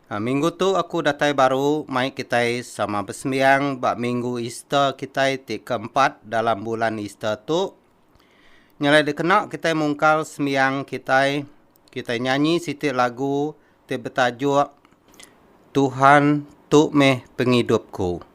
Minggu tu aku datai baru mai kitai sama besembiang ba minggu Easter kitai ti keempat dalam bulan Easter tu. Nyelai dikena kitai mungkal sembiang kitai, kitai nyanyi siti lagu ti betajuk Tuhan Tu Meh Pengidupku.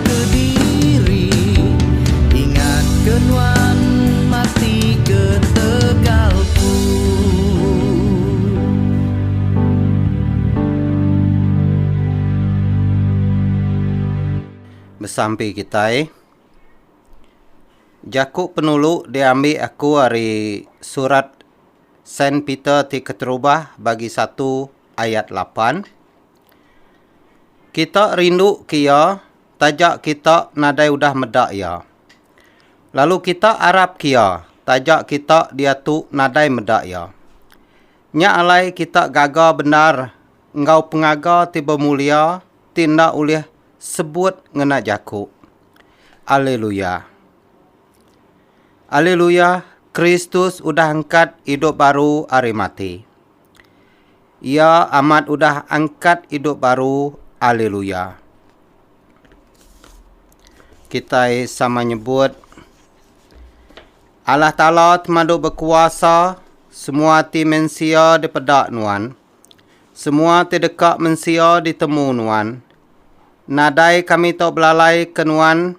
Kediri, ingatka nuan mati ketegalku. Besampi kitai, jaku penulu diambi aku ari Surat Saint Peter ti Keterubah bagi satu ayat lapan. Kita rinduka iya taja kita nadai udah meda iya. Lalu kita arapka iya taja kita diatu nadai meda iya. Nya alai kita gaga bendar enggau pengaga ti bemulia ti enda ulih sebut ngena jaku. Alleluia. Alleluia, Kristus udah angkat idup baru ari mati. Iya amat udah angkat idup baru Haleluya Kitai sama nyebut Allah Taala temadu bekuasa semua ti mensia dipeda nuan semua ti deka mensia ditemu nuan nadai kami tau belalai ke nuan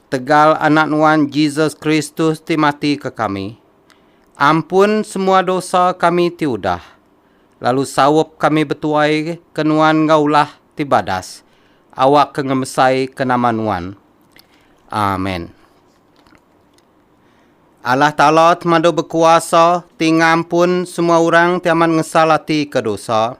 Tegal Anak Nuan Jesus Kristus ti mati ke kami, ampun semua dosa kami ti udah, lalu saup kami betuai ke Nuan enggau ulah ti badas, awak ke ngemesai ke nama Nuan. Amen. Allah Taala Temadu Bekuasa ti ngampun semua orang ti amat ngesal ati ke dosa,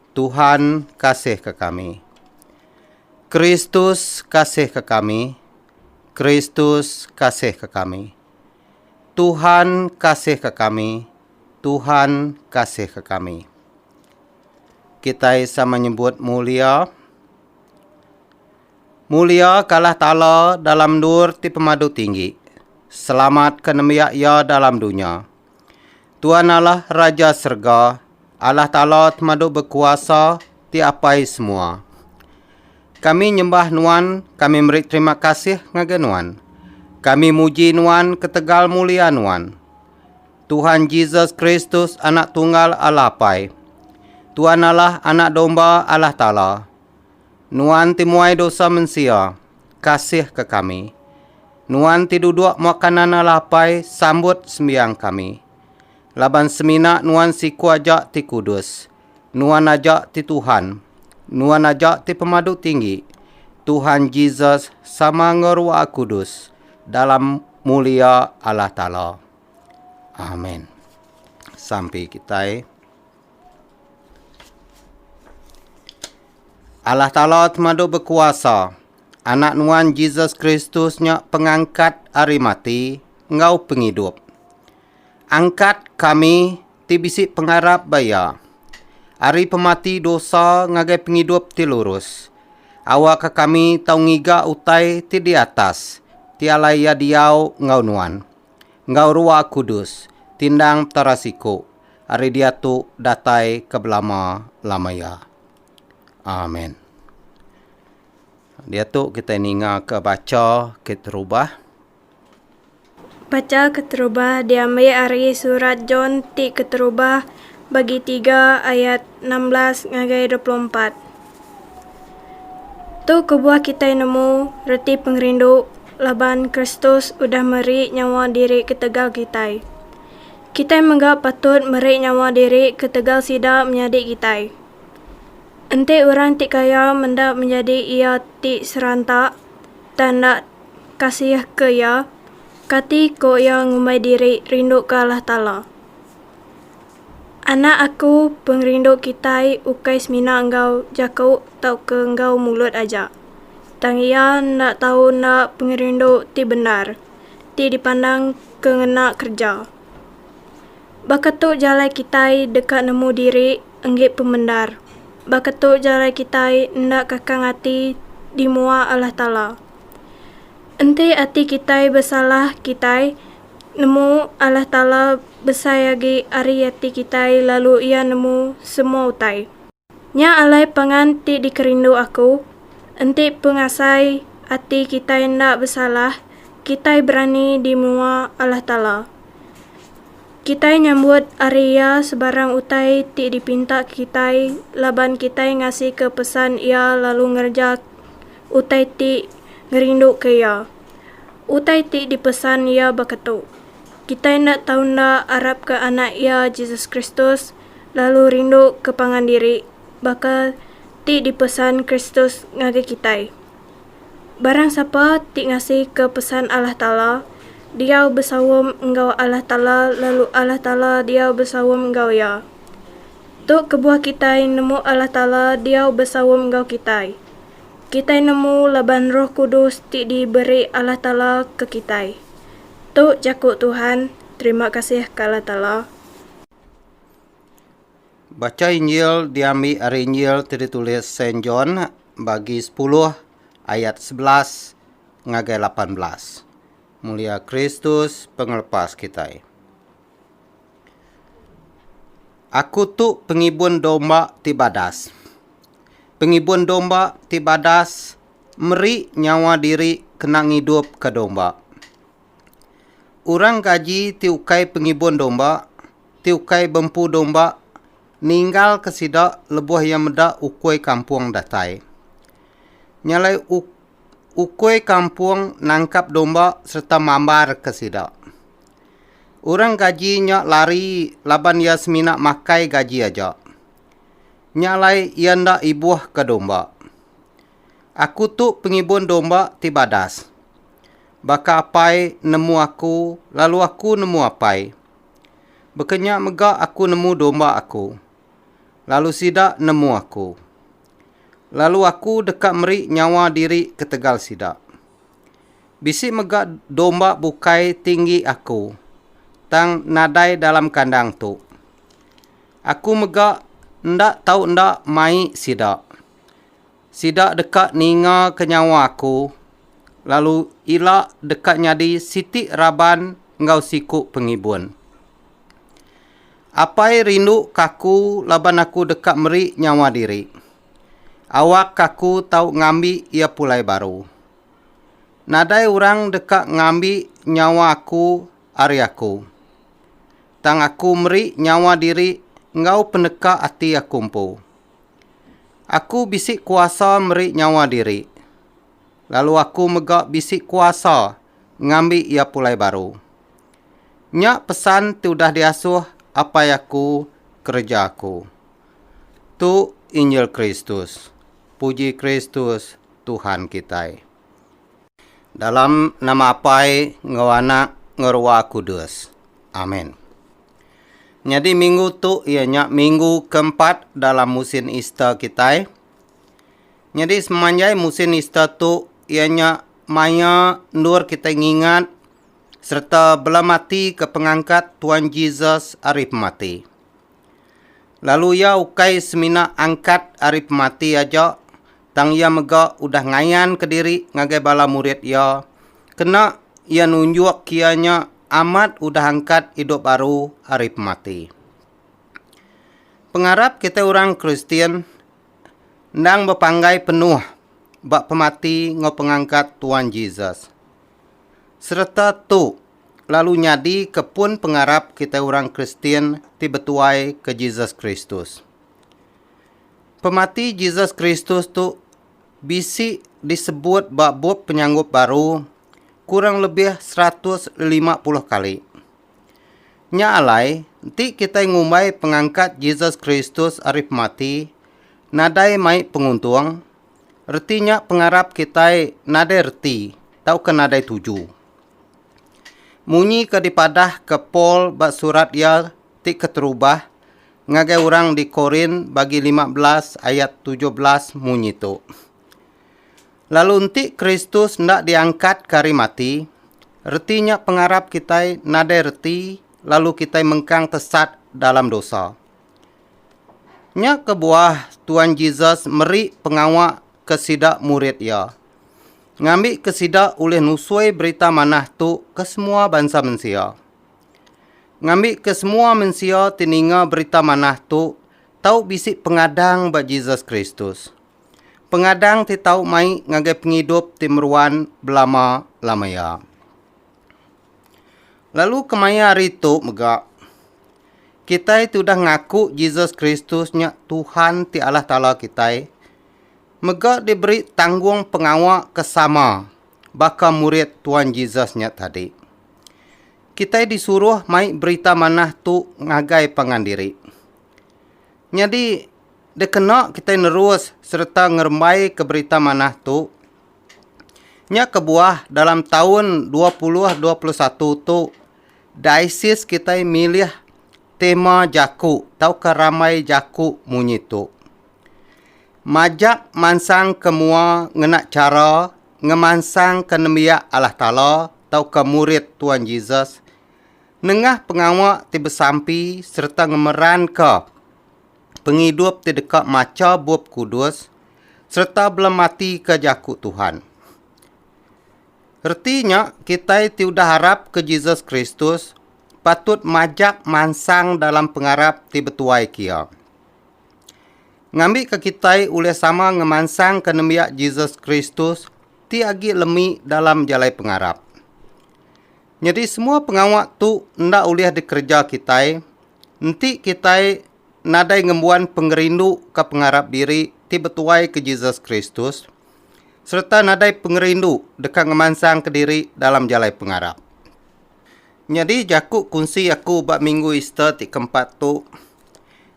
Tuhan kasihka kami. Kristus kasihka kami. Kristus kasihka kami. Tuhan kasihka kami. Tuhan kasihka kami. Kitai sama nyebut mulia. Mulia ka Allah Taala dalam endur ti pemadu tinggi. Selamat ka nembiak Iya dalam dunya. Tuan Allah Raja serega, Allah Taala temadu bekuasa ti apai semua. Kami nyembah Nuan, kami meri terima kasih ngagai Nuan. Kami muji Nuan ketegal mulia Nuan. Tuhan Jesus Kristus Anak Tunggal Allah Apai. Tuan Allah Anak Domba Allah Taala. Nuan ti muai dosa mensia, kasihka kami. Nuan ti duduk muak kanana lapai, sambut sembiang kami. Laban semina Nuan siku aja ti kudus, Nuan aja ti Tuhan, Nuan aja ti Pemadu Tinggi, Tuhan Jesus sama enggau Ruah Kudus, dalam mulia Allah Taala. Amen. Sampi kitai. Allah Taala temadu bekuasa. Anak Nuan Jesus Kristus nya pengangkat ari mati enggau pengidup. Angkat kami ti bisi pengarap ba Iya ari pemati dosa ngagai pengidup ti lurus. Awakka kami tau ngiga utai ti di atas ti alai Iya diau enggau nuan. enggau Ruah Kudus, tindang Petara siku ari diatu datai ke belama-lama iya. Amen. Diatu kitai ningaka bacha keterubah. Bacha keterubah diambi ari Surat John ti keterubah, bagi tiga ayat enam belas ngagai dua puluh empat. Tu kebuah kitai nemu reti pengerindu laban Kristus udah meri nyawa diri ketegal kitai. Kitai mega patut meri nyawa diri ketegal sida menyadi kitai. Enti orang ti kaya menda menyadi iya ti seranta tang enda kasihka iya, kati ko iya ngumbai diri rinduka Allah Taala? Anak aku, pengerindu kitai ukai semina enggau jaku tauka enggau mulut aja, tang iya enda tau enda pengerindu ti bendar ti dipandang ke ngena kereja. Baka tu jalai kitai deka nemu diri enggi pemendar, baka tu jalai kitai enda kakang ati di mua Allah Taala. Enti ati kitai besalah kitai Nemu Allah Taala besai agi ari ati kitai lalu Iya nemu semua utai. Nya alai pangan ti dikerindu aku, enti pengasai ati kitai enda besalah, kitai berani di mua Allah Taala. Kitai nyambut ari Iya sebarang utai ti dipinta kitai laban kitai ngasika pesan Iya lalu ngereja utai ti ngerinduka Iya. Utai ti dipesan iya baka tu, Kitai enda tau enda arapka Anak iya, Jesus Kristus, lalu rinduka pangan diri baka ti dipesan Kristus ngagai kitai. Barang sapa ti ngasika pesan Allah Taala, diau besaum enggau Allah Taala lalu Allah Taala diau besaum enggau iya. Tu kebuah kitai nemu Allah Taala diau besaum enggau kitai. kitai nemu laban Roh Kudus ti diberi Allah Taala ke kitai. Tu jaku Tuhan, Terima kasih ke Allah Taala. Bacha Injil diambi ari Injil ti ditulis Saint John bagi sepuluh ayat sebelas ngagai lapan belas. Mulia Kristus pengelepas kitai. Aku tu pengibun domba ti badas. Pengibun domba ti badas meri nyawa diri kena ngidupka domba. Orang gaji ti ukai pengibun domba, ti ukai bempu domba ninggalka sida lebuh iya meda ukui kampung datai. Nya alai ukui kampung nangkap domba sereta mambarka sida. Orang gaji nya lari laban iya semina makai gaji aja. Nya alai iya enda ibuhka domba. Aku tu pengibun domba ti badas. Baka apai nemu aku, lalu aku nemu apai. Baka nya mega aku nemu domba aku, lalu sida nemu aku. Lalu aku deka meri nyawa diri ketegal sida. Bisi mega domba bukai tinggi Aku, tang nadai dalam kandang tu. Aku mega enda tau enda mai sida. Sida deka ningaka nyawa Aku, lalu ila deka nyadi siti raban enggau siku pengibun. Apai rinduka Aku laban Aku deka meri nyawa diri. Awak aku tau ngambi iya pulai baru. Nadai orang deka ngambi nyawa aku ari aku. Tang aku meri nyawa diri enggau peneka ati aku empu. Aku bisi kuasa meri nyawa diri, lalu aku mega bisi kuasa ngambi iya pulai baru. Nya pesan ti udah diasuh Apai aku kereja aku. Tu injil Kristus. Puji Kristus Tuhan kitai. Dalam nama Apai enggau Anak enggau Ruah Kudus. Amen. Nyadi minggu tu iya nya minggu keempat dalam musin Easter kitai. Nyadi semanjai musin Easter tu iya nya maya endur kitai ngingat sereta belematika pengangkat Tuan Jesus ari pemati. Lalu iya ukai semina angkat ari pemati aja, tang iya mega udah ngayanka diri ngagai bala murid iya, kena iya nunjukka iya nya amat udah angkat idup baru ari pemati. Pengarap kitai orang Kristian endang bepanggai penuh ba pemati enggau pengangkat Tuan Jesus. Sereta tu, lalu nyadi ke pun pengarap kitai orang Kristian ti betuai ke Jesus Kristus. Pemati Jesus Kristus tu bisi disebut ba Bup Penyanggup Baru kurang lebih seratus lima puluh kali. Nya alai, enti kitai ngumbai pengangkat Jesus Kristus ari pemati nadai mai penguntung, reti nya pengarap kitai nadai reti tauka nadai tuju. Munyi ke dipadahka Paul ba surat iya ti keterubah ngagai orang di Korint bagi lima belas ayat tujuh belas munyi tu, Lalu enti Kristus enda diangkatka ari mati, reti nya pengarap kitai nadai reti lalu kitai mengkang tesat dalam dosa. Nya kebuah Tuan Jesus meri pengawa ke sida murid iya. ngambika sida ulih nusui berita manah tu ke semua bansa mensia. Ngambika semua mensia ti ninga berita manah tu tau bisi pengadang ba Jesus Kristus. Pengadang ti tau mai ngagai pengidup ti meruan belama-lama iya. Lalu kemaya hari tu mega, kitai ti udah ngaku Jesus Kristus nya Tuhan ti Allah Taala kitai, Mega diberi tanggungpengawa ke sama baka murid Tuan Jesus nya tadi. Kitai disuruh mai berita manah tu ngagai pangan diri. Nyadi, dikena kitai nerus sereta ngerembaika berita manah tu, nya kebuah dalam taun dua puluh dua puluh satu tu diocese kitai milih tema jaku tauka rambai jaku munyi tu. Majak mansang ke mua ngena chara ngemansangka nembiak Allah Taala tauka murid Tuan Jesus nengah pengawa ti besampi sereta ngemeranka pengidup ti deka macha Bup Kudus sereta belematika jaku Tuhan. Reti nya, kitai ti udah arapka Jesus Kristus patut majak mansang dalam pengarap ti betuai ke iya. Ngambika kitai ulih sama ngemansangka nembiak Jesus Kristus ti agi lemi dalam jalai pengarap. Nyadi semua pengawa tu enda ulih dikereja kitai enti kitai nadai ngembuan pengerindu ke pengarap diri ti betuai ke Jesus Kristus sereta nadai pengerindu deka ngemansangka diri dalam jalai pengarap. Nyadi jaku kunsi aku ba Minggu Easter ti keempat tu,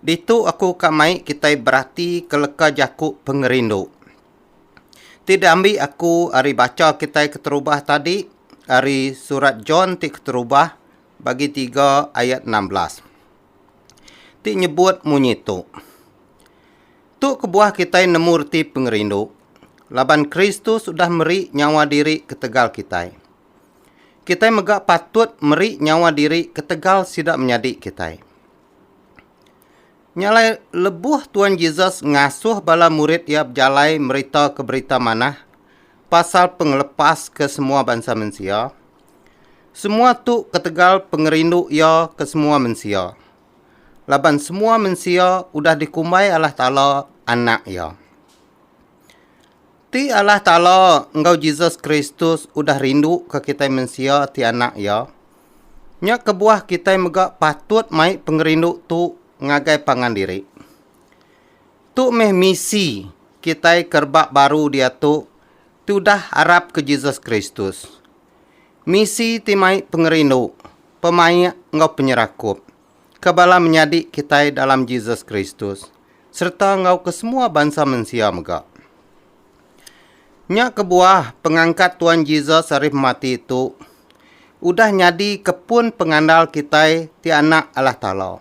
ditu aku ka mai kitai beratika leka jaku pengerindu ti diambi aku ari bacha kitai keterubah tadi ari Surat John ti keterubah bagi tiga ayat enam belas ti nyebut munyi tu, Tu kebuah kitai nemu reti pengerindu, laban Kristus udah meri nyawa diri ketegal kitai. Kitai mega patut meri nyawa diri ketegal sida menyadi kitai. Nya alai lebuh Tuan Jesus ngasuh bala murid iya bejalai meritauka Berita Manah pasal pengelepas ke semua bansa mensia, semua tu ketegal pengerindu iya ke semua mensia. Laban semua mensia udah dikumbai Allah Taala anak iya. Ti Allah Taala enggau Jesus Kristus udah rinduka kitai mensia ti anak Iya. Nya kebuah kitai mega patut mai pengerindu tu ngagai pangan diri. Tu meh misi kitai ke rebak baru diatu ti udah arapka Jesus Kristus. Misi ti mai pengerindu, pemaik enggau penyerakup. ke bala menyadi kitai dalam Jesus Kristus sereta enggau kesemua bansa mensia mega. Nya kebuah pengangkat Tuan Jesus ari pemati tu udah nyadika pun pengandal kitai ti anak Allah Taala.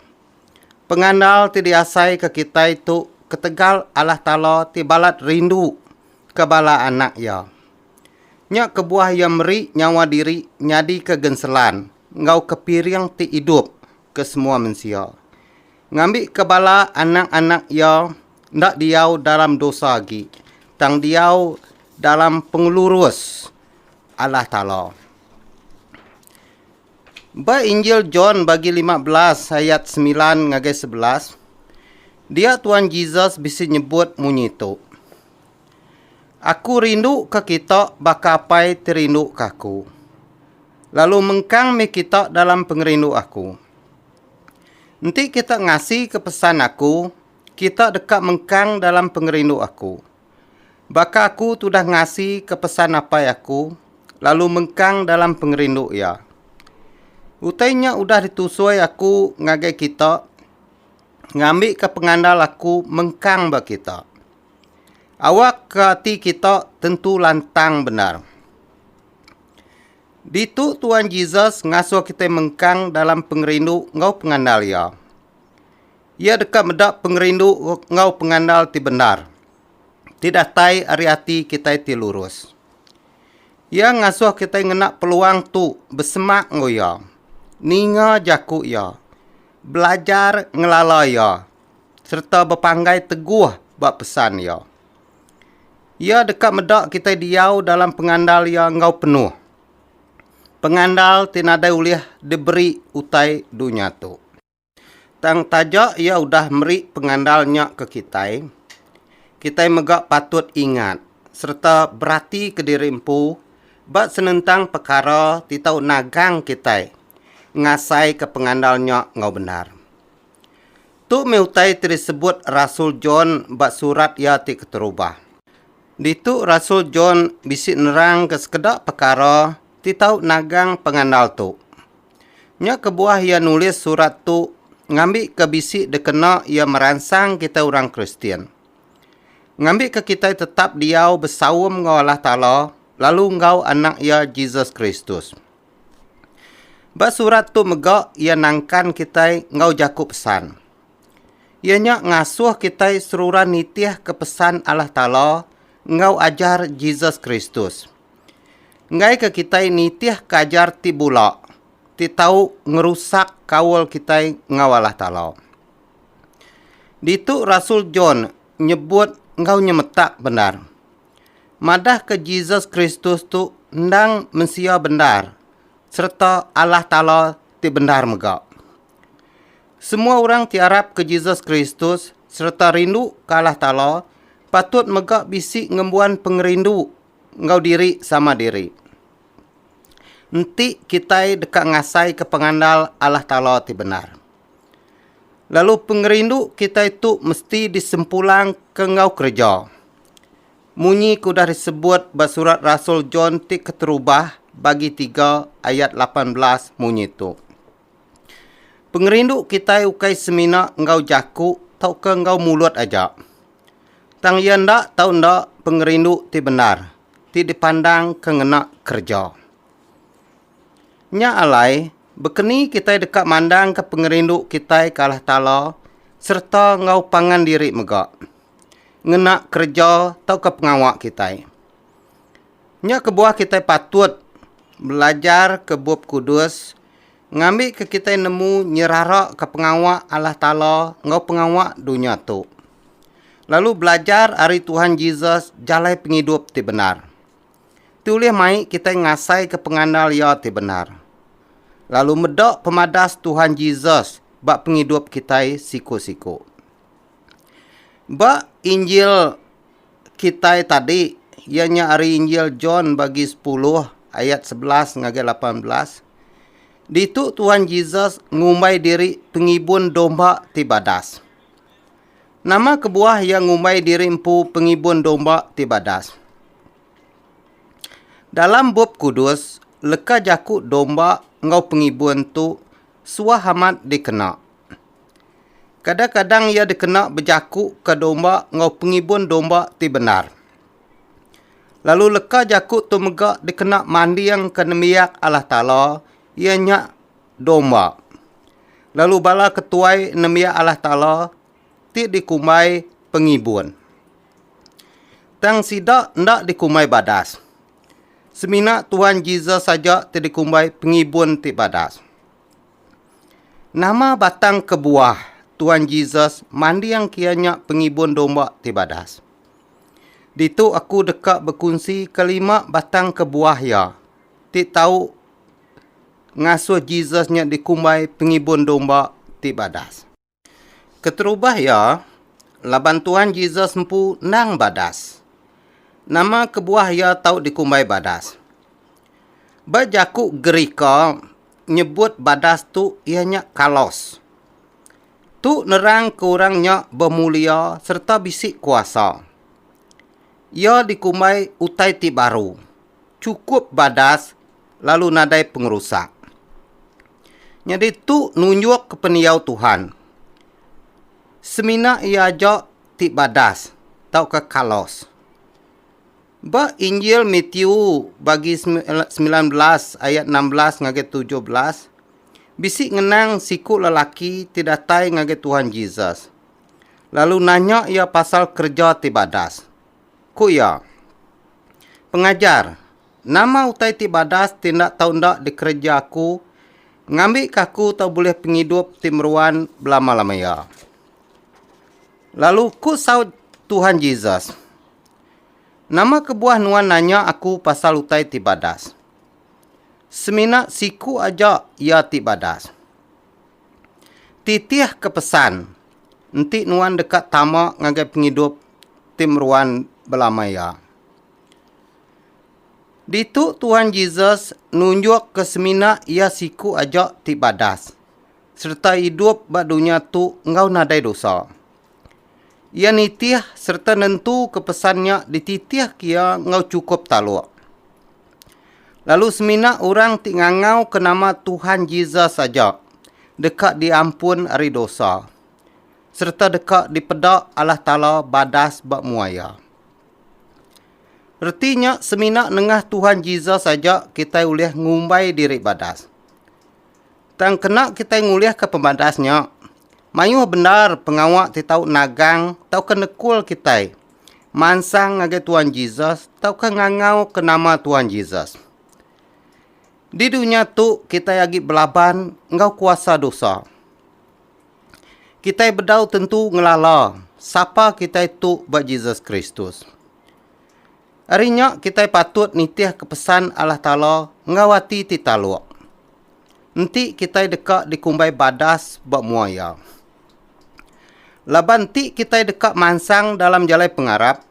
Pengandal ti diasaika kitai tu ketegal Allah Taala ti balat rinduka bala anak Iya. Nya kebuah iya meri nyawa diri nyadika genselan enggau kepiring ti idup ke semua mensia. Ngambika bala anak-anak iya enda diau dalam dosa agi, tang diau dalam pengelurus Allah Taala. Ba Injil John bagi lima belas ayat semilan ngagai sebelas, dia Tuan Jesus bisi nyebut munyi tu. Aku rindu ke kita baka Apai ti rindu ke aku. Lalu mengkang mih kita dalam pengerindu aku. Enti kita ngasi ke pesan aku, kita deka mengkang dalam pengerindu aku. Baka aku tudah ngasi ke pesan Apai aku, lalu mengkang dalam pengerindu Iya. Utai nya udah ditusoi aku ngagai kita ngambika pengandal aku mengkang ba kita. Awakka ati kita tentu lantang bendar. Ditu Tuan Jesus ngasuh kitai mengkang dalam pengerindu enggau pengandal Iya. Iya deka meda pengerindu enggau pengandal ti bendar, ti datai ari ati kitai ti lurus. Iya ngasuh kitai ngena peluang tu besemak enggau Iya, ninga jaku Iya, belajar ngelala Iya, sereta bepanggai teguh ba pesan iya. Iya deka meda kitai diau dalam pengandal iya enggau penuh. Pengandal ti nadai ulih diberi utai dunya tu. Tang taja iya udah meri pengandal nya ke kitai, kitai mega patut ingat sereta beratika diri empu ba senentang pekara ti tau nagang kitai ngasaika pengandal nya enggau bendar. Tu meh utai ti disebut rasul John ba surat iya ti keterubah. Ditu rasul John bisi nerangka sekeda pekara ti tau nagang pengandal tu. Nya kebuah iya nulis surat tu ngambika bisi dikena iya meransang kitai orang Kristian. Ngambika kitai tetap diau besaum enggau Allah Taala lalu enggau Anak Iya Jesus Kristus. Ba surat tu mega iya nangkan kitai enggau jaku pesan. Iya nya ngasuh kitai seruran nitihka pesan Allah Taala enggau ajar Jesus Kristus. Enggaika kitai nitihka ajar ti bula ti tau ngerusak kaul kitai enggau Allah Taala. Ditu rasul John nyebut enggau nyemetak bendar. madahka Jesus Kristus tu endang mensia bendar sereta Allah Taala ti bendar mega. Semua orang ti arapka Jesus Kristus sereta rinduka Allah Taala patut mega bisi ngembuan pengerindu enggau diri sama diri. Enti kitai deka ngasaika pengandal Allah Taala ti bendar, lalu pengerindu kitai tu mesti disempulangka enggau kereja. Munyi ke udah disebut ba surat rasul John ti keterubah bagi tiga ayat lapan belas munyi tu. Pengerindu kitai ukai semina enggau jaku tauka enggau mulut aja. Tang iya enda tau enda pengerindu ti bendar ti dipandang ke ngena kereja. Nya alai, bekeni kitai deka mandangka pengerindu kitai ke Allah Taala sereta enggau pangan diri mega? ngena kereja tauka pengawa kitai. Nya kebuah kitai patut belajarka Bup Kudus ngambika kitai nemu nyeraraka pengawa Allah Taala enggau pengawa dunya tu, lalu belajar ari Tuhan Jesus jalai pengidup ti bendar. Ti ulih mai kitai ngasaika pengandal Iya ti bendar, lalu meda pemadas Tuhan Jesus ba pengidup kitai siku-siku. Ba Injil kitai tadi iya nya ari Injil John bagi sepuluh ayat sebelas ngagai lapan belas ditu Tuhan Jesus ngumbai diri pengibun domba ti badas. Nama kebuah iya ngumbai diri empu pengibun domba ti badas? Dalam Bup Kudus, leka jaku domba enggau pengibun tu suah amat dikena. Kadang-kadang iya dikena bejakuka domba enggau pengibun domba ti bendar. Lalu leka jaku tu mega dikena mandingka nembiak Allah Taala iya nya domba. Lalu bala ke tuai nembiak Allah Taala ti dikumbai pengibun. Tang sida enda dikumbai badas. Semina Tuhan Jesus aja ti dikumbai pengibun ti badas. Nama batang kebuah Tuan Jesus manding kia nya pengibun domba ti badas? Ditu aku deka bekunsika lima batang kebuah iya ti tau ngasuh Jesus nya dikumbai pengibun domba ti badas. Keterubah iya, laban Tuhan Jesus empu endang badas. Nama kebuah iya tau dikumbai badas? Ba jaku Gerika, nyebut badas tu iya nya kalos. Tu nerangka orang nya bemulia sereta bisi kuasa. Iya dikumbai utai ti baru. chukup badas lalu nadai pengerusak. Nyadi tu nunjukka pendiau Tuhan. Semina iya aja ti badas tauka kalos. Ba Injil Matiu bagi semilan belas ayat enam belas ngagai tujuh belas, bisi ngenang siku lelaki ti datai ngagai Tuhan Jesus, lalu nanya iya pasal kereja ti badas. Ku iya, Pengajar, nama utai ti badas ti enda tau enda dikereja aku ngambika aku tau bulih pengidup ti meruan belama-lama iya? Lalu ku saut Tuhan Jesus, Nama kebuah nuan nanya aku pasal utai ti badas? Semina siku aja iya ti badas. Titihka pesan, Enti nuan deka tama ngagai pengidup ti meruan belama iya. Ditu Tuhan Jesus nunjukka semina iya siku aja ti badas sereta idup ba dunya tu enggau nadai dosa. Iya nitih sereta nentuka pesan nya dititihka iya enggau chukup taluk. Lalu semina orang ti ngangauka nama Tuhan Jesus aja deka diampun ari dosa. sereta deka dipeda Allah Taala badas ba mua iya. Reti nya semina nengah Tuhan Jesus aja kitai ulih ngumbai diri badas. Tang kena kitai ngulihka pemadas nya, mayuh bendar pengawa ti tau nagang tauka nekul kitai mansang ngagai Tuhan Jesus tauka ngangauka nama Tuhan Jesus. Di dunya tu kitai agi belaban enggau kuasa dosa. Kitai bedau tentu ngelala sapa kitai tu ba Jesus Kristus. Ari nya kitai patut nitihka pesan Allah Taala enggau ati ti taluk. Enti kitai deka dikumbai badas ba mua Iya. Laban enti kitai deka mansang dalam jalai pengarap,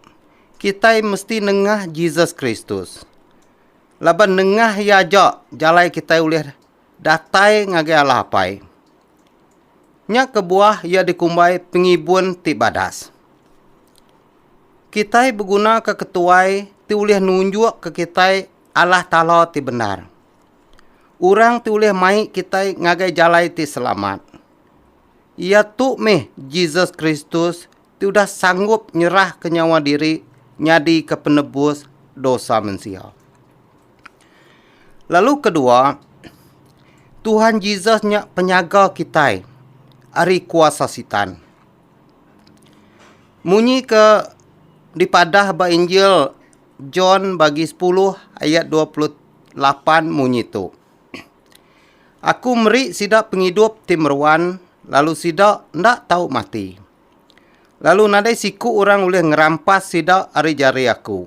kitai mesti nengah Jesus Kristus. Laban nengah Iya aja jalai kitai ulih Datai ngagai Allah Apai. Nya kebuah iya dikumbai pengibun ti badas. Kitai begunaka ketuai ti ulih nunjukka kitai Allah Taala ti bendar. Orang ti ulih mai kitai ngagai jalai ti selamat, iya tu meh Jesus Kristus ti udah sanggup nyerahka nyawa diri nyadika penebus dosa mensia. Lalu kedua, Tuhan Jesus nya penyaga kitai ari kuasa Sitan. Munyi ke dipadah ba Injil John bagi 10 ayat 28 munyi tu. Aku meri sida pengidup ti meruan lalu sida enda tau mati. lalu nadai siku orang ulih ngerampas sida ari jari Aku.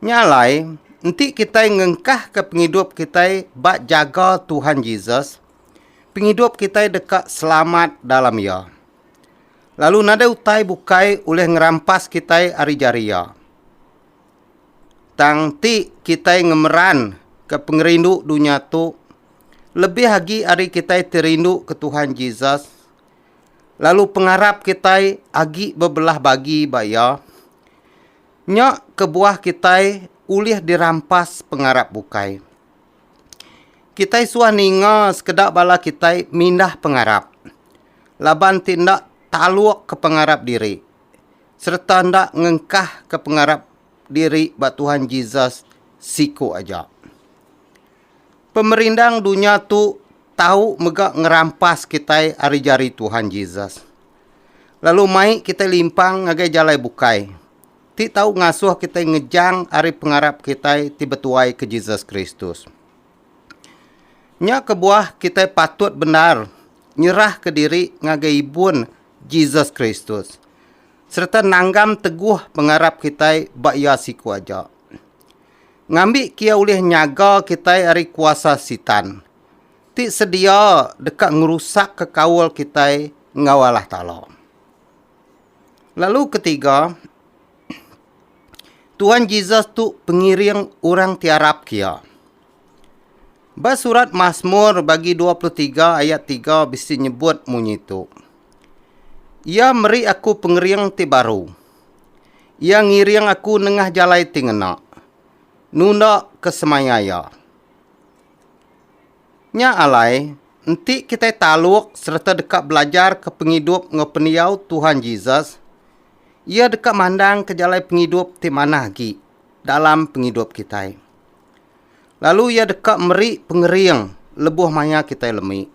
Nya alai, enti kitai ngengkahka pengidup kitai ba jaga Tuhan Jesus, pengidup kitai deka selamat dalam Iya. Lalu nadai utai bukai ulih ngerampas kitai ari jari Iya. Tang enti kitai ngemeranka pengerindu dunya tu lebih agi ari kitai ti rinduka Tuhan Jesus, lalu pengarap kitai agi bebelah bagi ba iya, nya kebuah kitai ulih dirampas pengarap bukai. Kitai suah ninga sekeda bala kitai mindah pengarap laban ti enda talukka pengarap diri. sereta enda ngengkahka pengarap diri ba Tuhan Jesus siku aja. Pemerindang dunya tu tau mega ngerampas kitai ari jari Tuhan Jesus, lalu mai kitai limpang ngagai jalai bukai, ti tau ngasuh kitai ngejang ari pengarap kitai ti betuai ke Jesus Kristus. Nya kebuah kitai patut bendar nyerahka diri ngagai ibun Jesus Kristus sereta nanggam teguh pengarap kitai ba Iya siku aja. Ngambi ke iya ulih nyaga kitai ari kuasa Sitan, ti sedia deka ngerusakka kaul kitai enggau Allah Taala. Lalu ketiga, Tuhan Jesus tu pengiring orang ti arap kia. Ba surat Mazmur bagi 23 ayat 3 bisi nyebut munyi tu. Iya meri aku pengering ti baru. Iya ngiring aku nengah jalai ti ngena. Nunda ke semaya iya. Nya alai, enti kitai taluk sereta deka belajarka pengidup enggau pendiau Tuhan Jesus, Iya deka mandangka jalai pengidup ti manah agi dalam pengidup kitai. Lalu Iya deka meri pengering lebuh maya kitai lemi.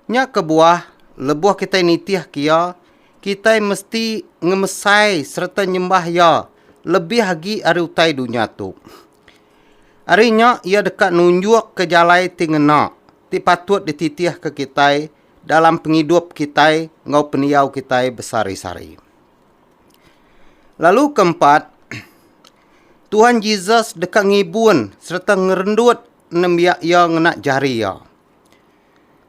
Nya kebuah, lebuh kitai nitihka Iya, kitai mesti ngemesai sereta nyembah Iya lebih agi ari utai dunya tu. Ari nya, Iya deka nunjukka jalai ti ngena ti patut dititihka kitai dalam pengidup kitai enggau pendiau kitai besehari-sehari. Lalu ke empat, Tuhan Jesus deka ngibun sereta ngerendut nembiak iya ngena jari iya.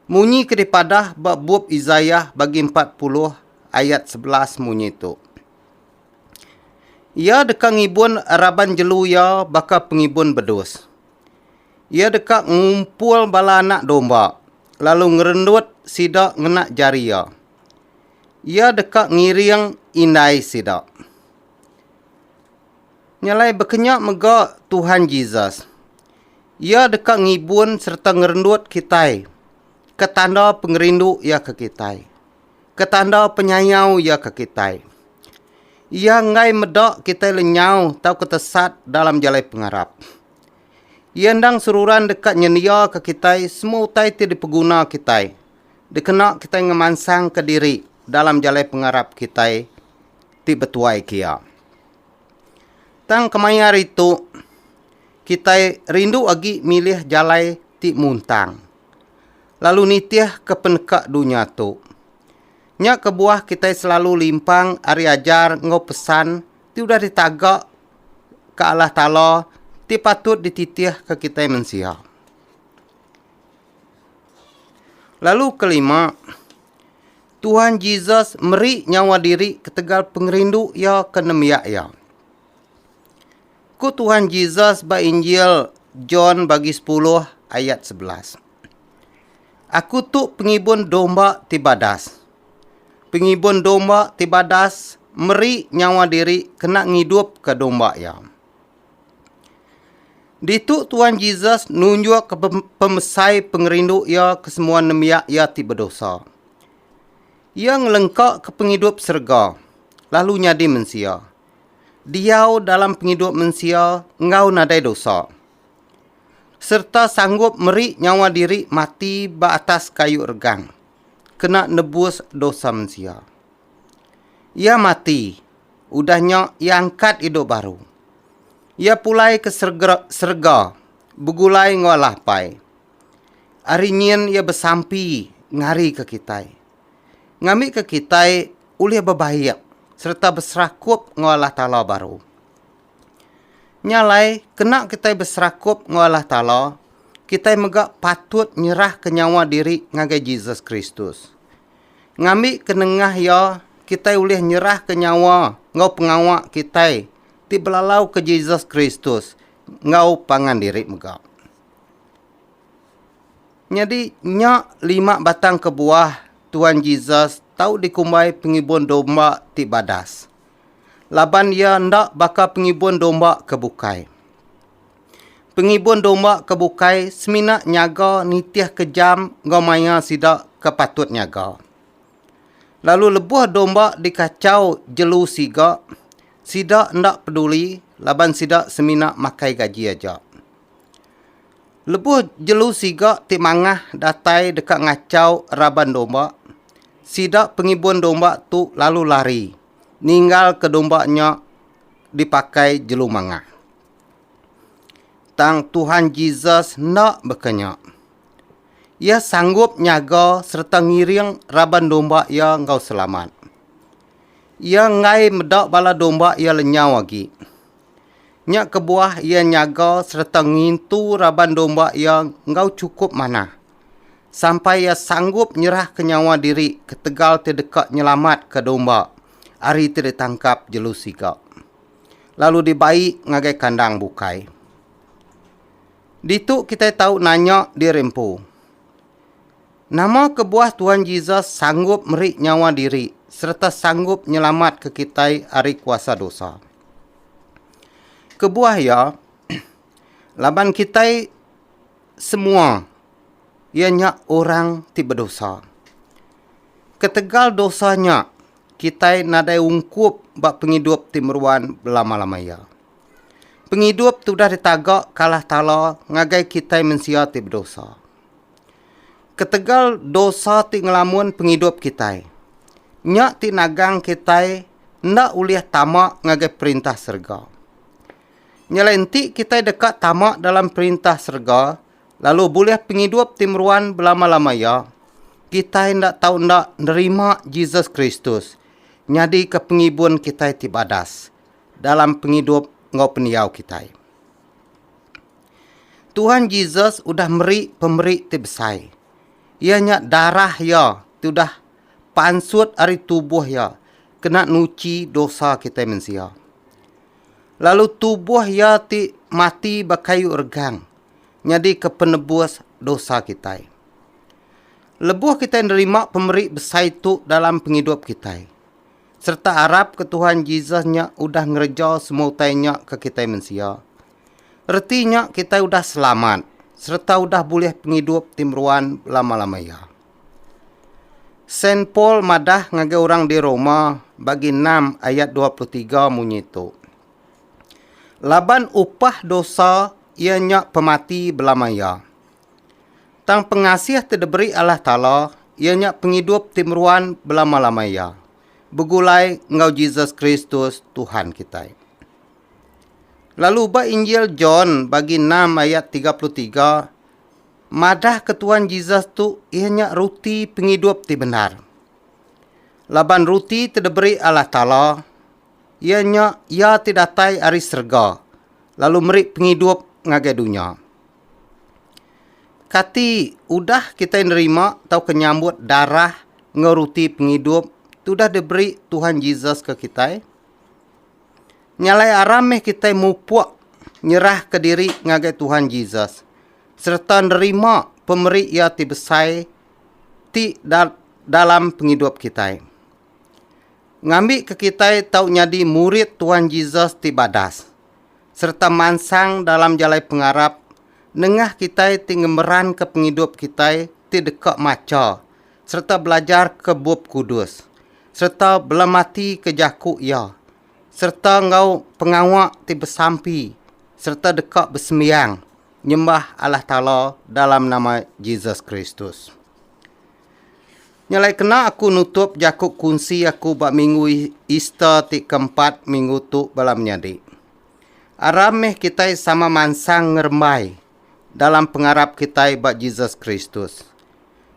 Munyi ke dipadah ba bup Isaiah bagi 40 ayat 11 munyi tu. Iya deka ngibun raban jelu iya baka pengibun bedus. Iya deka ngumpul bala anak domba, lalu ngerendut sida ngena jari Iya. Iya deka ngiring indai sida. Nya alai bekenya mega Tuhan Jesus. Iya deka ngibun sereta ngerendut kitai ke tanda pengerindu Iya ke kitai, ke tanda penyayau Iya ke kitai. Iya enggai meda kitai lenyau tauka tesat dalam jalai pengarap. Iya endang seruran deka nyendiaka kitai semua utai ti dipeguna kitai dikena kitai ngemansangka diri dalam jalai pengarap kitai ti betuai ke Iya. Tang kemaya hari tu, kitai rindu agi milih jalai ti muntang, lalu nitihka peneka dunya tu. Nya kebuah kitai selalu limpang ari ajar enggau pesan ti udah ditaga ke Allah Taala ti patut dititihka kitai mensia. Lalu kelima, Tuhan Jesus meri nyawa diri ketegal pengerindu iya ke nembiak iya. Ku Tuhan Jesus ba Injil John bagi 10 ayat 11. Aku tu pengibun domba ti badas. Pengibun domba ti badas meri nyawa diri kena ngidupka domba iya. Ditu Tuan Jesus nunjukka pemesai pengerindu iya ke semua nembiak iya ti bedosa. Iya ngelengkaka pengidup serega lalu nyadi mensia, diau dalam pengidup mensia enggau nadai dosa, sereta sanggup meri nyawa diri mati ba atas kayu regang. kena nebus dosa mensia. Iya mati, udah nya iya angkat idup baru. Iya pulai ke serga, serega begulai enggau Allah Apai. Ari nyin iya besampi ngarika kitai. Ngambika kitai ulih bebaik sereta beserakup enggau Allah Taala baru. Nya alai, kena kitai beserakup enggau Allah Taala, kitai mega patut nyerahka nyawa diri ngagai Jesus Kristus. Ngambika nengah Iya, kitai ulih nyerahka nyawa enggau pengawa kitai ti belalauka Jesus Kristus enggau pangan diri mega. Nyadi, nya lima batang kebuah Tuan Jesus tau dikumbai pengibun domba ti badas. laban iya enda baka pengibun domba ke bukai. Pengibun domba ke bukai semina nyaga nitihka jam enggau maya sida ke patut nyaga. Lalu lebuh domba dikachau jelu siga, sida enda peduli laban sida semina makai gaji aja. Lebuh jelu siga ti mangah datai deka ngachau raban domba, sida pengibun domba tu lalu lari ninggalka domba nya dipakai jelu mangah. Tang Tuhan Jesus enda baka nya. Iya sanggup nyaga sereta ngiring raban domba iya enggau selamat. Iya enggai meda bala domba iya lenyau agi. Nya kebuah iya nyaga sereta ngintu raban domba iya enggau chukup manah, sampai iya sanggup nyerahka nyawa diri ketegal ti deka nyelamatka domba ari ti ditangkap jelu siga, lalu dibai ngagai kandang bukai. Ditu kitai tau nanya diri empu, Nama kebuah Tuhan Jesus sanggup meri nyawa diri sereta sanggup nyelamatka kitai ari kuasa dosa? Kebuah iya, laban kitai semua iya nya orang ti bedosa. Ketegal dosa nya, kitai nadai ungkup ba pengidup ti meruan belama-lama iya. Pengidup ti udah ditaga ke Allah Taala ngagai kitai mensia ti bedosa. Ketegal dosa ti ngelamun pengidup kitai, nya ti nagang kitai enda ulih tama ngagai Perintah serega. Nyelai enti kitai deka tama dalam Perintah serega lalu bulih pengidup ti meruan belama-lama iya, kitai enda tau enda nerima Jesus Kristus nyadika Pengibun kitai ti badas dalam pengidup enggau pendiau kitai. Tuhan Jesus udah meri pemeri ti besai, iya nya darah iya ti udah pansut ari tubuh iya kena nuchi dosa kitai mensia. Lalu tubuh iya ti mati ba kayu regang nyadika penebus dosa kitai. Lebuh kitai nerima pemeri besai tu dalam pengidup kitai, sereta arap ke Tuhan Jesus nya udah ngereja semua utai nya ke kitai mensia, Reti nya kitai udah selamat sereta udah bulih pengidup ti meruan belama-lama iya. Saint Paul madah ngagai orang di Roma bagi enam ayat dua puluh tiga munyi tu, Laban upah dosa iya nya pemati belama iya. Tang pengasih ti diberi Allah Taala iya nya pengidup ti meruan belama-lama iya, begulai enggau Jesus Kristus Tuhan kitai. Lalu ba Injil John bagi enam ayat tiga puluh tiga, madah ke Tuan Jesus tu iya nya ruti pengidup ti bendar. Laban ruti ti diberi Allah Taala iya nya iya ti datai ari serega lalu meri pengidup ngagai dunya. Kati udah kitai nerima tauka nyambut darah enggau ruti pengidup ti udah diberi Tuhan Jesus ke kitai? Nya alai aram meh kitai mupuk nyerahka diri ngagai Tuhan Jesus sereta nerima pemeri Iya ti besai ti dalam pengidup kitai. Ngambika kitai tau nyadi murid Tuhan Jesus ti badas sereta mansang dalam jalai pengarap nengah kitai ti ngemeranka pengidup kitai ti deka macha sereta belajarka Bup Kudus. sereta belamatika jaku iya, sereta enggau pengawa ti besampi sereta deka besembiang nyembah Allah Taala dalam nama Jesus Kristus. Nya alai kena aku nutup jaku kunsi aku ba minggu Easter ti keempat minggu tu bala menyadi. Aram meh kitai sama mansang ngerembai dalam pengarap kitai ba Jesus Kristus.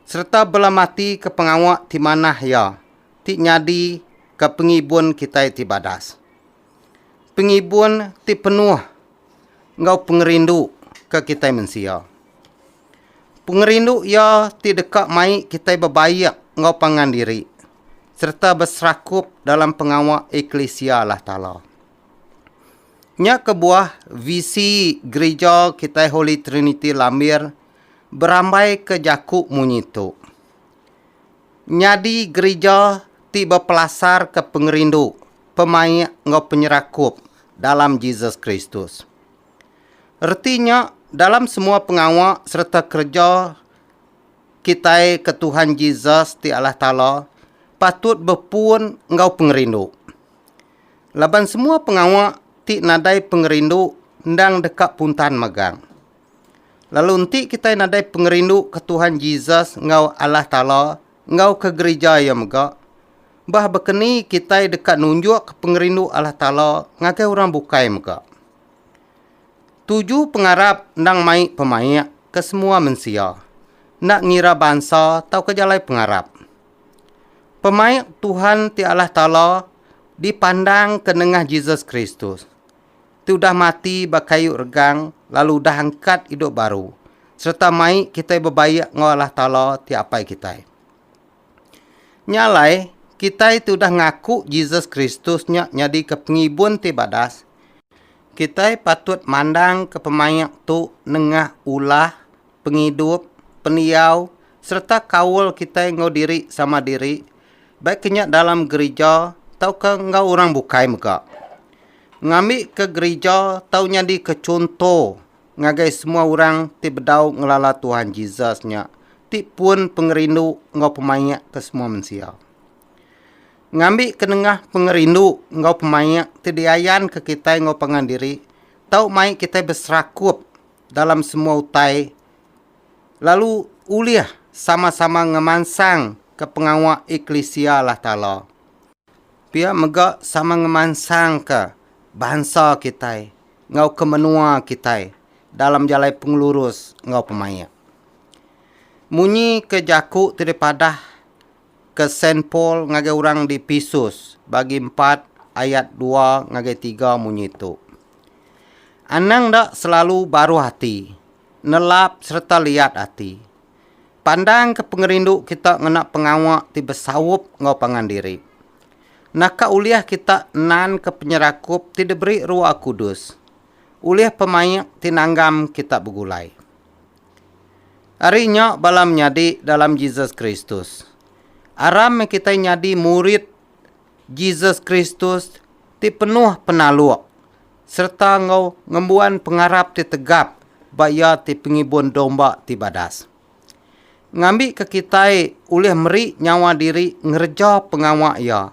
sereta bela mati ke pengawa ti manah iya ti nyadi ke pengibun kitai ti badas. Pengibun ti penuh enggau pengerindu ke kitai mensia. Pengerindu iya ti deka mai kitai bebaik enggau pangan diri sereta beserakup dalam pengawa eklisia Allah Taala. Nya kebuah visi Gerija kitai Holy Trinity Lambir Berambaika jaku munyi tu, nyadi gerija ti bepelasarka pengerindu, pemaik enggau penyerakup dalam Jesus Kristus. Reti nya, dalam semua pengawa sereta kereja kitai ke Tuhan Jesus ti Allah Taala patut bepun enggau pengerindu. Laban semua pengawa ti nadai pengerindu endang deka puntan megang. Lalu enti kitai nadai pengerindu ke Tuhan Jesus enggau Allah Taala enggau ke gerija iya mega, bah baka ni kitai deka nunjukka pengerindu Allah Taala ngagai orang bukai mega? Tuju pengarap endang mai pemaik ke semua mensia, enda ngira bansa tauka jalai pengarap. Pemaik Tuhan ti Allah Taala dipandangka nengah Jesus Kristus. ti udah mati ba kayu regang lalu udah angkat idup baru sereta mai kitai bebaik enggau Allah Taala ti Apai kitai. Nya alai, kitai ti udah ngaku Jesus Kristus nya nyadika pengibun ti badas, kitai patut mandangka pemaik tu nengah ulah, pengidup, pendiau, sereta kaul kitai enggau diri sama diri, baik ke nya dalam gerija tauka enggau orang bukai mega. Ngambika gerija tau nyadika chunto ngagai semua orang ti bedau ngelala Tuhan Jesus nya ti pun pengerindu enggau pemaik ke semua mensia. Ngambika nengah pengerindu enggau pemaik ti diayanka kitai enggau pangan diri tau mai kitai beserakup dalam semua utai lalu ulih sama-sama ngemansangka pengawa eklisia Allah Taala. Pia mega sama ngemansangka bansa kitai enggau ke menua kitai dalam jalai pengelurus enggau pemaik. Munyi ke jaku ti dipadah ke Saint Paul ngagai orang di Episus bagi empat ayat dua ngagai tiga munyi tu, Anang enda selalu baruh ati, nelap sereta liat ati. Pandangka pengerindu kita ngena pengawa ti besaup enggau pangan diri. Naka ulih kita nanka penyerakup ti diberi Roh Kudus ulih pemaik ti nanggam kita begulai. Ari nya bala menyadi dalam Jesus Kristus, aram meh kitai nyadi murid Jesus Kristus ti penuh penaluk. sereta enggau ngembuan pengarap ti tegap ba iya ti pengibun domba ti badas. Ngambika kitai ulih meri nyawa diri ngereja pengawa iya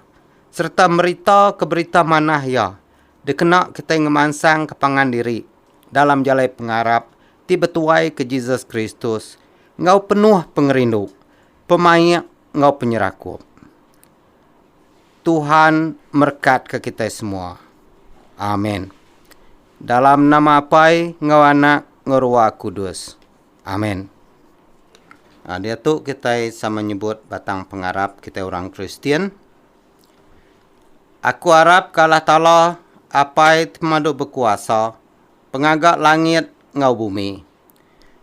sereta meritauka Berita Manah iya dikena kitai ngemansangka pangan diri dalam jalai pengarap ti betuaika Jesus Kristus enggau penuh pengerindu, pemaik enggau penyerakup. Tuhan merkatka kitai semua. Amen. Dalam nama Apai enggau Anak enggau Ruah Kudus. Amen. Ah, diatu kitai sama nyebut batang pengarap kitai orang Kristian. Aku arap ke Allah Taala, Apai ti pemadu bekuasa, pengaga langit enggau bumi.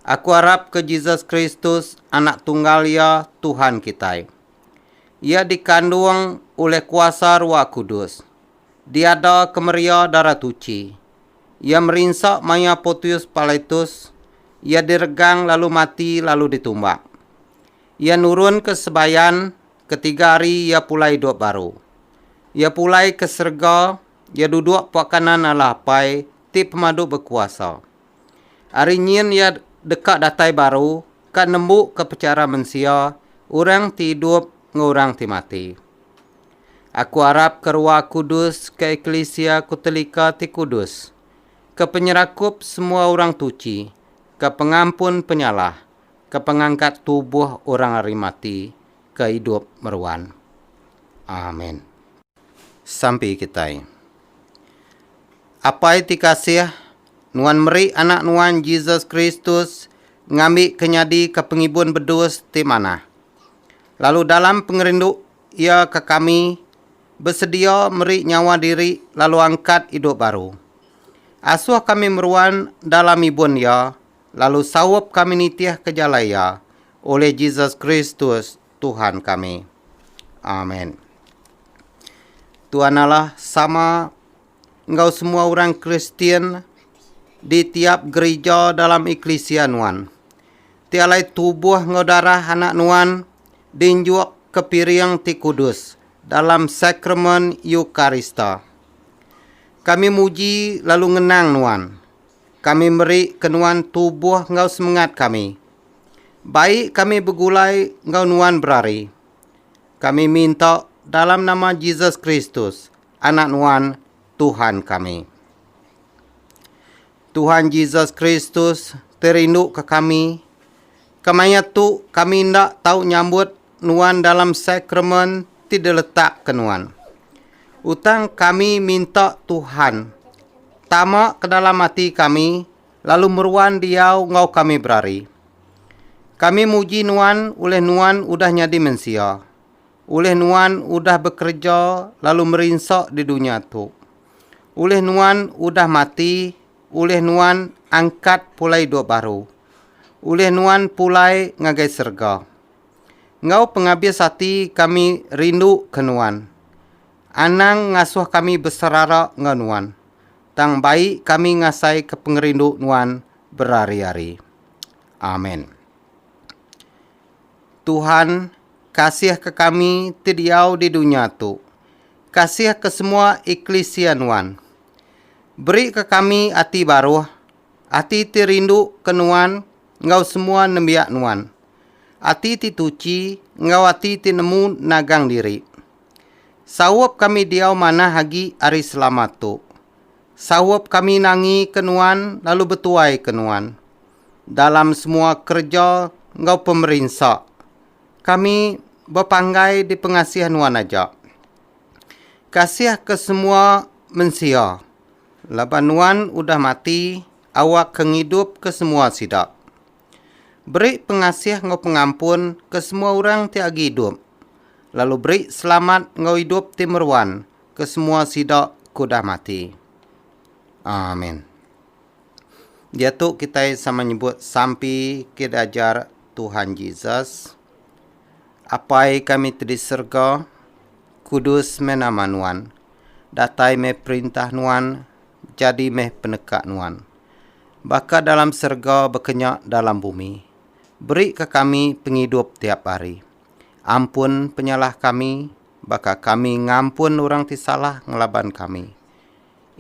Aku arap ke Jesus Kristus, Anak Tunggal Iya, Tuhan kitai. Iya dikandung ulih kuasa Ruah Kudus. Diada kemeria Darah Tuchi. Iya merinsa maya Potius Pilatus, Iya diregang lalu mati lalu ditumbak. Iya nurun ke sebayan, ketiga hari Iya pulai idup baru. Iya pulai ke serega, Iya duduk pua kanan Allah Apai ti pemadu bekuasa. Ari nyin iya deka datai baru ka nembuka pechara mensia orang ti idup enggau orang ti mati. Aku arap ke Rua Kudus ke eklisia ku telika ti kudus, ke penyerakup semua orang tuchi, ke pengampun penyalah, ke pengangkat tubuh orang ari mati ke idup meruan. Amen. Sampi kitai. Apai ti kasih Nuan meri Anak Nuan Jesus Kristus ngambika nyadi ka pengibun bedus ti manah. Lalu dalam pengerindu Iya ka kami, besedia meri nyawa diri lalu angkat idup baru. Asuh kami meruan dalam ibun Iya lalu saup kami nitih ka jalai Iya, ulih Jesus Kristus, Tuhan kami. Amen. Tuan Allah sama. enggau semua orang Kristian di tiap gerija dalam eklisia nuan. Ti alai tubuh enggau darah anak nuan dinjuk ke piring ti kudus dalam sakramen Eukarista. Kami muji lalu ngenang nuan. Kami meri ke nuan tubuh enggau semengat kami. Bai kami begulai enggau nuan berari. Kami minta dalam nama Jesus Kristus, Anak Nuan, Tuhan kami. Tuhan Jesus Kristus ti rinduka kami, kemaya tu kami enda tau nyambut Nuan dalam sakramen ti diletakka Nuan. Utan kami minta Tuhan tama ke dalam ati kami lalu meruan diau enggau kami berari. Kami muji Nuan ulih Nuan udah nyadi mensia. Ulih nuan udah bekereja lalu merinsa di dunya tu? Ulih nuan udah mati, ulih nuan angkat pulai idup baru? Ulih nuan pulai ngagai serega? Enggau pengabis ati kami rinduka nuan. Anang ngasuh kami beserara enggau nuan, tang bai kami ngasaika pengerindu nuan berari-ari. Amen. Tuhan, kasihka kami ti diau di dunya tu. Kasihka semua eklisia Nuan. Berika kami ati baruh, ati ti rinduka Nuan enggau semua nembiak Nuan, ati ti tuchi enggau ati ti nemu nagang diri. Saup kami diau manah agi ari selamat tu. Saup kami nangi ke Nuan lalu betuai ke Nuan dalam semua kereja enggau pemerinsa kami bepanggai di pengasih Nuan aja. Kasih ke semua mensia laban Nuan udah mati awak ke ngidup ke semua sida. Beri pengasih enggau pengampun ke semua orang ti agi idup lalu beri selamat enggau idup ti meruan ke semua sida ke udah mati. Amin. Diatu kitai sama nyebut sampi ke diajar Tuhan Jesus. Apai kami ti di serega, kudus meh nama nuan. Datai meh perintah nuan, jadi meh peneka nuan. Baka dalam serega bekenya dalam bumi. Beri ka kami pengidup tiap hari. Ampun penyalah kami, baka kami ngampun orang ti salah ngelaban kami.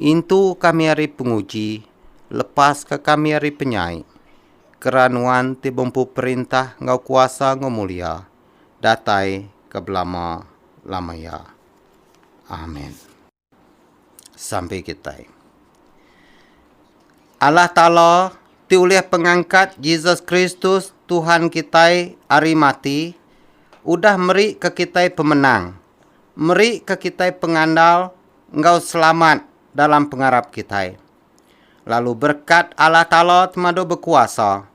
Intu kami ari penguji, lepaska kami ari penyai. Kera Nuan ti bempu perintah enggau kuasa enggau mulia, datai ke belama-lama iya. Amen. sampai kitai. Allah Taala ti ulih pengangkat Jesus Kristus Tuhan kitai ari mati udah meri ke kitai pemenang, meri ke kitai pengandal enggau selamat dalam pengarap kitai. Lalu berkat Allah Taala temadu bekuasa,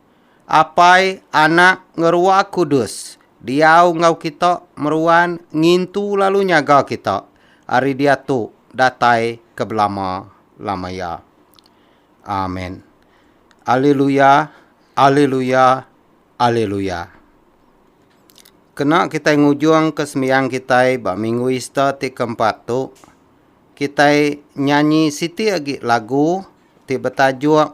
Apai, Anak, ngeruah kudus, diau enggau kita meruan ngintu lalu nyaga kita ari diatu datai ke belama lama iya. Amen. Aleluya, aleluya, aleluya. Kena kitai ngujung ke sembiang kitai ba minggu Ista ti ke empat tu, kitai nyanyi siti agi lagu ti betajuk